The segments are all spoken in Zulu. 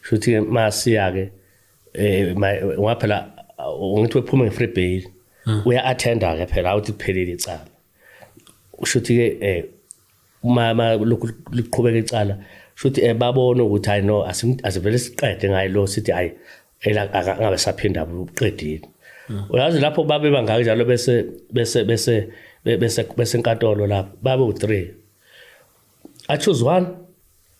shuthi ke masiya ke eh ngoba phela ngithi wephuma nge free bail hmm. uya attenda ke phela awuthi kuphelile icala ushuthi ke eh uma lokhu liqhubeka icala shuthi eh babona ukuthi hayi no asivele siqede ngayo lo sithi hayi ela angabe saphinda uqedile hmm. uyazi lapho babe bangaka njalo bese bese bese bese bese enkantolo lapho babe u3 i choose one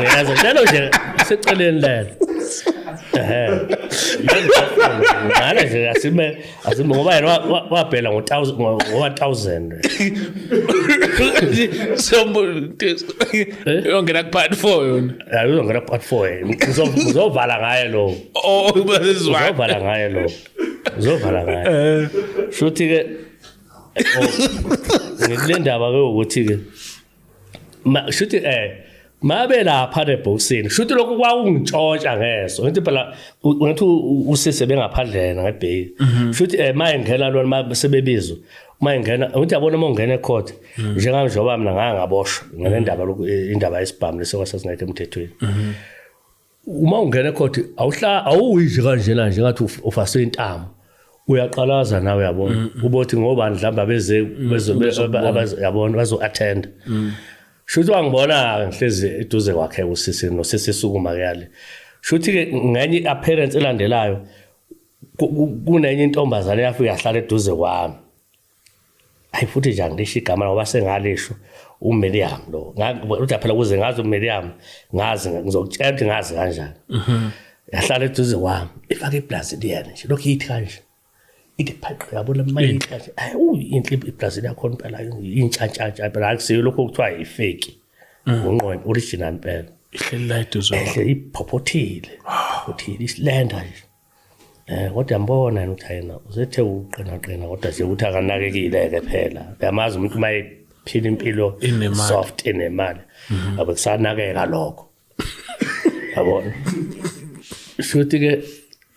uyazi njalo nje seceleni lena ngale nje asime asime ngoba yena wabhela ngo-1000 yongena kupart four yona hayi uzongena kupart four uzovala ngaye lowo oh, uzovala ngaye lowo uzovala ngaye eh. shuthi-ke oh, ngikule ndaba-ke ukuthi-ke shuthi eh mabe lapha nebhokisini shuthi lokhu kwakungitshontsha ngeso ngithi phela ngathi usise bengaphandlena ngebheki mhm. shuthi eh maye ngena lona mabe sebebizwa maye ngena ngithi yabona uma ungena ecourt mhm. njengami njengoba mina nganga ngaboshwa ngenendaba lokhu eh, indaba yesibhamu lesokwasasingekho emthethweni mhm. uma ungena ecourt awuhla awuyidli kanjena nje ngathi ufaswe intamo uyaqalaza nawe uyabona mm, mm. ubothi ngoba mhlawumbe abeze mm, yabona bazo attend shuthi wangibona ngihlezi eduze kwakhe usisi nosisi sukuma kuyale shuthi ke ngenye appearance elandelayo kunenye intombazane yafika yahlala eduze kwami hayi futhi nje angisho igama ngoba sengalisho uMiriam lo uthi phela kuze ngazi uMiriam ngazi ngizokutshela ukuthi ngazi kanjani mhm. yahlala eduze kwami ifake iplazi liyena nje lokhu yithi kanje ithi phaqe yabona manje kanje hayi uyi inhle iplazi lakho impela intshantshantsha phela akusiyo lokho kuthiwa yifeki mhm. unqondo original impela ihleli la eduze iphophothile phophothile isilenda nje Eh kodwa mbona yena ukuthi yena usethe uqina qina kodwa nje ukuthi akanakekile ke phela. Uyamazi umuntu uma ephila impilo soft enemali. Mhm. Abe kusanakeka lokho. Yabona. Shuthi ke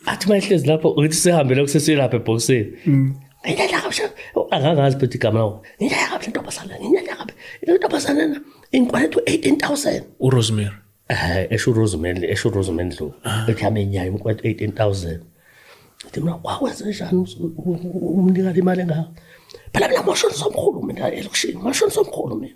athi mayihlezi lapho uthi sihambele kusesilapha ebhokisini. Mhm. Ngiyala kahle. Angangazi ukuthi igama lawo. Ngiyala kahle ntombazana, ngiyala kahle. Intombazana na inkwethu 18000. URosemary. eh esho Rosemary esho Rosemary Ndlovu ah. ethi amenyayo imkwethu 18000 Ngithi mina kwakwenze njani umnikali imali engaka? Phela mina mosho somkhulu mina elokushini, mosho somkhulu mina.